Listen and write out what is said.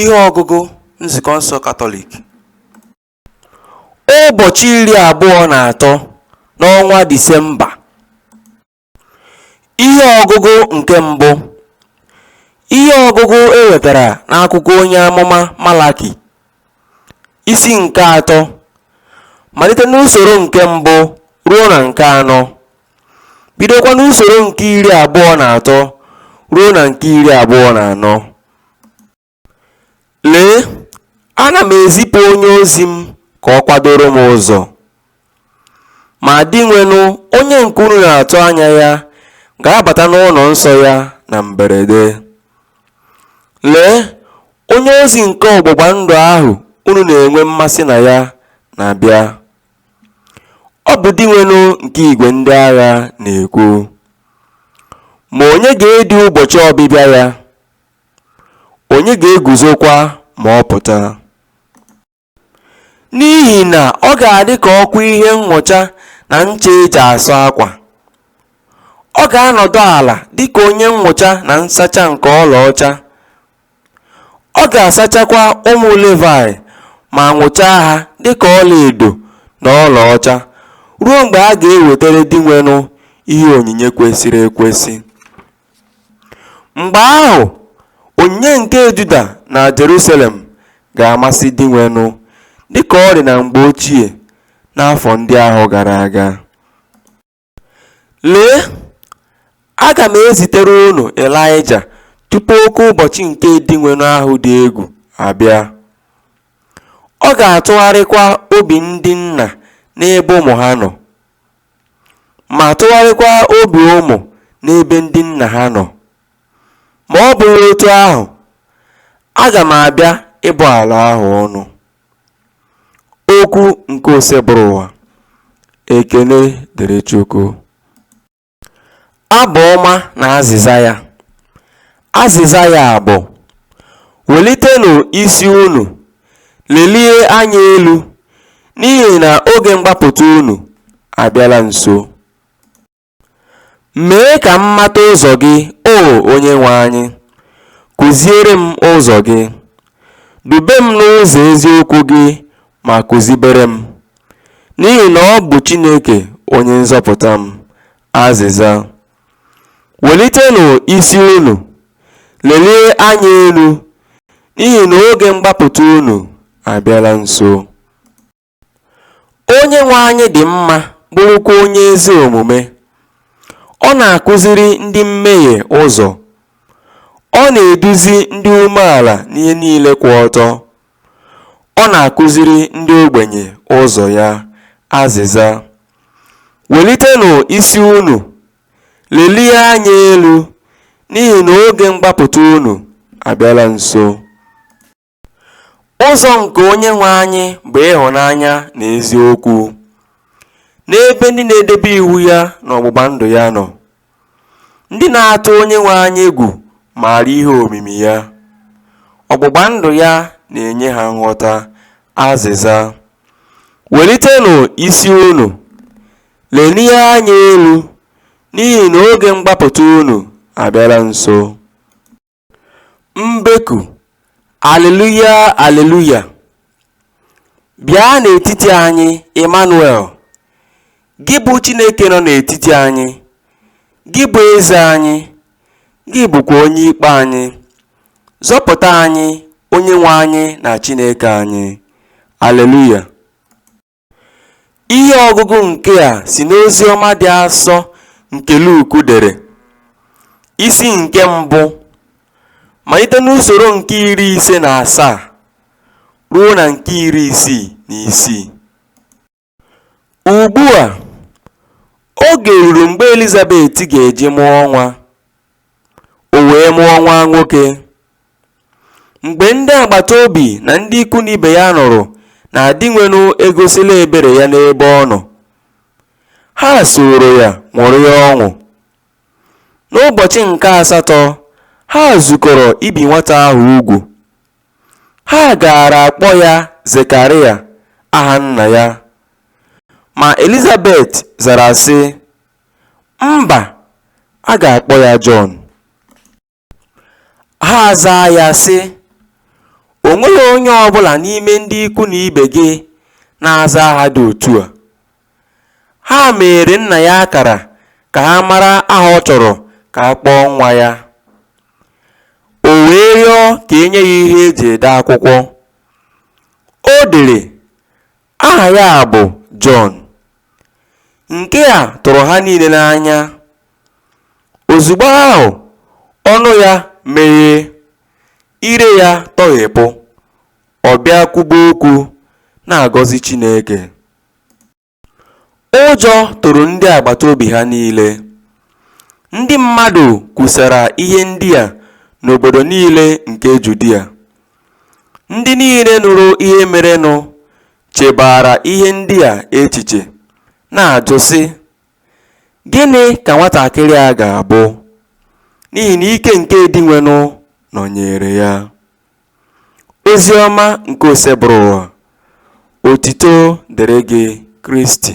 Ihe ọgụgụ Nzukọ nsọ Katọlik Ụbọchị iri abụọ na atọ n'ọnwa Disemba Ihe ọgụgụ nke mbụ Ihe ọgụgụ e wetara n'akwụkwọ onye amụma Malaki isi nke atọ malite n'usoro nke mbụ ruo na nke anọ. bidokwa n'usoro nke iri abụọ na atọ ruo na nke iri abụọ na anọ lee ana m ezipụ onye ozi m ka ọ kwadoro m ụzọ ma dinwenụ onye nke unu na-atụ anya ya ga-abata n'ụlọ nsọ ya na mberede lee onye ozi nke ọgbụgba ndụ ahụ unu na-enwe mmasị na ya na-abịa Ọ bụ Dinwenụ nke igwe ndị agha na-ekwu. Ma onye ga-edi ụbọchị ọbịbịa ya? Onye ga-eguzokwa ma ọ pụta? N'ihi na ọ ga-adị ka ọkụ ihe nnụcha na ncha e ji asụ akwa. Ọ ga-anọdụ ala dị ka onye nnụcha na nsacha nke ọlaọcha. Ọ ga-asachakwa ụmụ Livaị ma nụchaa ha dị ka ọlaedo na ọlaọcha, ruo mgbe a ga-ewetara Dinwenụ ihe onyinye kwesịrị ekwesị. Mgbe ahụ, onyinye nke Juda na Jerusalem ga-amasị Dinwenụ, dị ka ọ dị na mgbe ochie, n'afọ ndị ahụ gara aga. Lee, aga m ezitere unu Ịlaịja tupu oke ụbọchị nke Dinwenụ ahụ dị egwu abịa. Ọ ga-atụgharịkwa obi ndị nna n'ebe ụmụ ha nọ, ma tụgharịkwa obi ụmụ n'ebe ndị nna ha nọ. Ma ọ bụghị otu ahụ, aga m abịa ịbụ ala ahụ ọnụ. Okwu nke Osebụrụwa ekene dịrị Chukwu. Abụ ọma na azịza ya. Azịza ya bụ welitenụ isi unu lelie anya elu n'ihi na oge mgbapụta unu abịala nso. Mee ka m mata ụzọ gị, O Onyenwe anyị, kụziere m ụzọ gị. Dube m n'ụzọ eziokwu gị ma kụzibere m, n'ihi na ọ bụ Chineke onye nzọpụta m. Azịza. Welitenụ isi unu, lelie anya elu, n'ihi na oge mgbapụta unu abịala nso. Onyenwe anyị dị mma bụrụkwa onye ezi omume. Ọ na-akụziri ndị mmehie ụzọ. Ọ na-eduzi ndị umeala n'ihe niile kwụ ọtọ. Ọ na-akụziri ndị ogbenye ụzọ ya. Azịza. Welitenụ isi unu, lelie anya elu, n'ihi na oge mgbapụta unu abịala nso. Ụzọ nke Onyenwe anyị bụ ịhụnanya na eziokwu. N'ebe ndị na-edebe iwu ya na ọgbụgba ndụ ya nọ, ndị na-atụ Onyenwe anyị egwu maara ihe omimi ya. Ọgbụgba ndụ ya na-enye ha nghọta. Azịza. Welitenụ isi unu, lelie anya elu, n'ihi na oge mgbapụta unu abịala nso. Mbeku, Aleluya, Aleluya! Bịa n'etiti anyị, Emmanuel, Gị bụ Chineke nọ n'etiti anyị, Gị bụ Eze anyị, Gị bụkwa Onye Ikpe anyị. Zọpụta anyị, Onyenwe anyị na Chineke anyị. Aleluya! Ihe ọgụgụ nke a si n'Oziọma dị asọ nke Luku dere, isi nke mbụ, malite n'usoro nke iri ise na asaa ruo na nke iri isii na isii. Ugbu a, oge ruru mgbe Elizabet ga-eji mụọ nwa, o wee mụọ nwa nwoke. Mgbe ndị agbata obi na ndị ikwu na ibe ya nụrụ na Dinwenụ egosila ebere ya n'ebe ọ nọ, ha sooro ya ṅụrịa ọṅụ. N'ụbọchị nke asatọ, ha zukọrọ ibi nwata ahụ ugwu. Ha gaara akpọ ya Zekarịa, aha nna ya. Ma Elizabet zara sị, Mba, a ga-akpọ ya Jọn. Ha azaa ya sị, O nweghị onye ọ bụla n'ime ndị ikwu na ibe gị na-aza aha dị otu a. Ha meere nna ya akara ka ha mara aha ọ chọrọ ka a kpọọ nwa ya. O wee rịọ ka e nye ya ihe e ji ede akwụkwọ. O dere Aha ya bụ Jọn. Nke a tụrụ ha niile n'anya. Ozugbo ahụ, ọnụ ya meghee, ire ya tọghepụ, ọ bịa kwube okwu, na-agọzi Chineke. Ụjọ tụrụ ndị agbata obi ha niile. Ndị mmadụ kwusara ihe ndị a n'obodo niile nke Judia. Ndị niile nụrụ ihe merenụ chebaara ihe ndị a echiche, na-ajụ, sị, Gịnị ka nwatakịrị a ga-abụ? N'ihi na ike nke Dinwenụ nọnyeere ya. Ozi ọma nke Osebụrụwa, otito dịrị gị Kristi.